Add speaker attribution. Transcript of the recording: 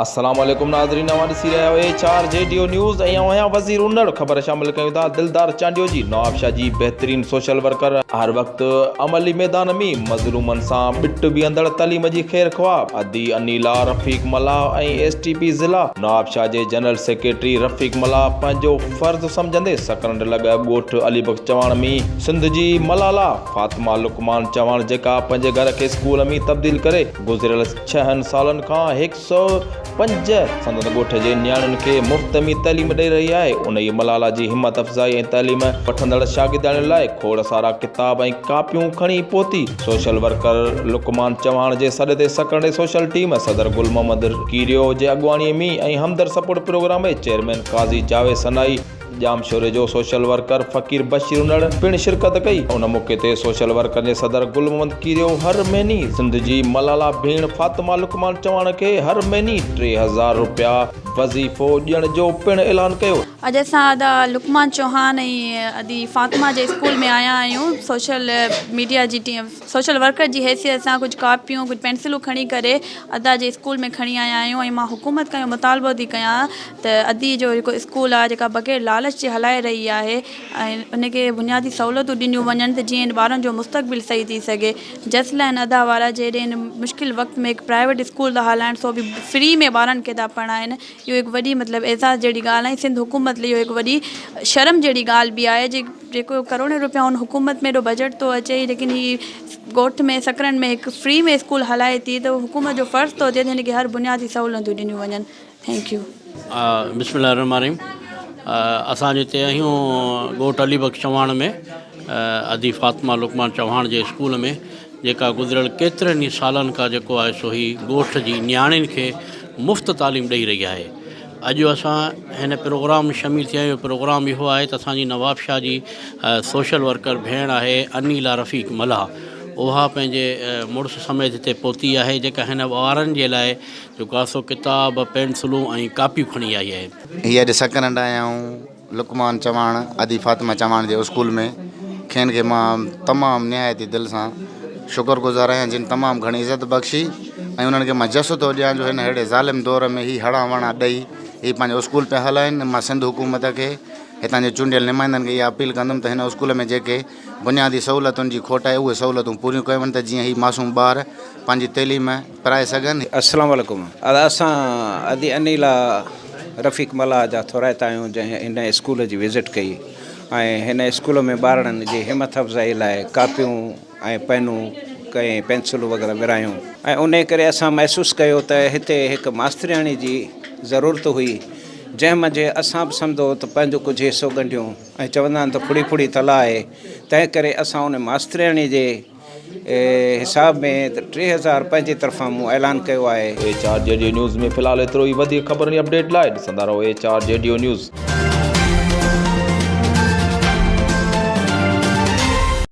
Speaker 1: السلام عليڪم ناظرين اوهان ڏسي رهيا آهيو ايچ آر جيڊيو نيوز ۽ اوهان وزير اونڙ خبر شامل ڪيون ٿا دلدار چانڊيو جي نوابشاهه جي بهترين سوشل ورڪر هر وقت عملي ميدان مين مظلومن سان ٻٽ بيهندڙ تعليم جي خير خواه ادي Anila Rafiq Mallah ۽ S T P ضلع نوابشاهه جي جنرل سيڪريٽري رفيق ملاح پنهنجو فرض سمجهندي سڪرنڊ لڳ ڳوٺ علي بخش چواڻ مين سنڌ جي ملالا فاطمه لقمان چواڻ جيڪا پنهنجي گهر کي اسڪول مين تبديل ڪري گذريل ڇهن سالن کان هڪ سؤ پنج سندن ڳوٺ جي نياڻين کي مفت ۾ تعليم ڏئي رهي آهي. انهيء ملالا جي همت افزائي ۽ تعليم وٺندڙ شاگردياڻين لاء کوڙ سارا ڪتاب ۽ ڪاپيون کڻي پهتي. سوشل ورڪر لقمان چوهاڻ جي سڏ تي سڪرنڊي سوشل ٽيم صدر گل محمد ڪيريو جي اڳواڻي ۾ ۽ همدرد سپورٽ پروگرام جي چيئرمين قاضي جاويد سنائي، ڄامشوري جو سوشل ورڪر فقير بشير انڙ پڻ شرڪت ڪئي ان موقعي تي سوشل ورڪرن جي صدر گل محمد ڪيريو هر مهيني سنڌ جي ملالا ڀيڻ فاطمه لقمان چواڻ کي هر مهيني ٽي هزار روپيا وظيفو ڏيڻ جو پڻ اعلان ڪيو. اڄ اسان ادا
Speaker 2: لقمان چوهان ۽ ادي فاطمه جي اسڪول ۾ آيا آهيون سوشل ميڊيا جي ٽيم سوشل ورڪر جي حيثيت سان ڪجهه ڪاپيون ڪجهه پينسلون کڻي ڪري ادا جي اسڪول ۾ کڻي آيا آهيون ۽ مان حڪومت کان اهو مطالبو ٿي ڪيان ته ادي جو جيڪو اسڪول آهي جيڪا بغير لالچ جي هلائي رهي آهي ۽ ان کي بنيادي سهولتون ڏنيون وڃن ته جيئن ٻارن جو مستقبل صحيح ٿي سگهي جس لاء هن ادا وارا جي هيڏي هن مشڪل وقت ۾ هڪ پرائيويٽ اسڪول ٿا هلائن سو به فري ۾ ٻارن کي ٿا پڙهائن اهو هڪ وڏي مطلب اعزاز جهڙي ڳالهه ۽ سنڌ حڪومت لئي اهو هڪ وڏي شرم جهڙي ڳالهه به آهي جي جيڪو ڪروڙين روپيا هن حڪومت ۾ ايڏو بجيٽ ٿو اچي ليڪن هي ڳوٺ ۾ سڪرنڊ ۾ هڪ فري ۾ اسڪول هلائي ٿي ته حڪومت جو فرض ٿو ٿئي ته هن کي هر بنيادي سهولتون ڏنيون وڃن ٿينڪ يو. بسم الله
Speaker 3: الرحمٰن الرحيم اسان جي تيهيون ڳوٺ علي بخش چواڻ ۾ ادي فاطمه لقمان چوهاڻ جي اسڪول ۾ جيڪا گذريل ڪيترن ئي سالن کان جيڪو آهي سو هي ڳوٺ جي نياڻين کي مفت تعليم ڏئي رهي آهي اڄ اسان هن پروگرام ۾ شميل ٿيا آهيون پروگرام اهو آهي ته اسانجي نوابشاهه جي سوشل ورڪر ڀيڻ آهي انيلا رفيق ملاح اها پنهنجي مڙس سميت هتي پهتي آهي جيڪا هن ٻارن جي لاء جيڪو آهي سو ڪتاب پينسلون ۽ ڪاپيون کڻي آئي آهي هي اڄ سڪرنڊ
Speaker 4: آيا آهيون لقمان چواڻ ادي فاطمه چواڻ جي اسڪول ۾ کين کي مان تمام نهايت ئي دل سان شڪر گذار آهيان جن تمام گهڻي عزت بخشي ۽ انهن کي مان جس ٿو ڏيان جو هن ههڙي ظالم دور ۾ هي هڙان وڻان ڏئي هي پنهنجو اسڪول پيا هلائين مان سنڌ حڪومت کي هتان جي چونڊيل نمائندن کي اها اپيل ڪندم ته هن اسڪول ۾ جيڪي بنيادي سهولتن جي کوٽ آهي اهي سهولتون پوريون ڪيون وڃن ته جيئن هي معصوم ٻار پنهنجي تعليم پرائي سگهن. السلام عليڪم
Speaker 5: اسان ادي انيلا رفيق ملاح جا ٿورائتا آهيون جنهن هن اسڪول جي وزٽ ڪئي ۽ هن اسڪول ۾ ٻارڙن جي همٿ افزائي لاء ڪاپيون ۽ پينون ڪئين پينسلون وغيره ورهايون ۽ انهي ڪري اسان محسوس ڪيو ته هتي هڪ ماسترياڻي جي ضرورت هئي جنهن منجهه اسان به سمدو ته پنهنجو ڪجهه حصو ڳنڍيون ۽ چوندا آهن ته ڦڙي ڦڙي تلاء آهي تنهن ڪري اسان انهي ماسترياڻي جي حساب ۾ ته ٽي هزار پنهنجي طرفان مون اعلان ڪيو آهي. ايچ آر
Speaker 1: جي ڊيو نيوز ۾ فلحال
Speaker 5: ايترو
Speaker 1: ئي وڌيڪ خبرن ۽ اپڊيٽ لاء ڏسندا رهو
Speaker 5: ايچ
Speaker 1: آر جي ڊيو نيوز.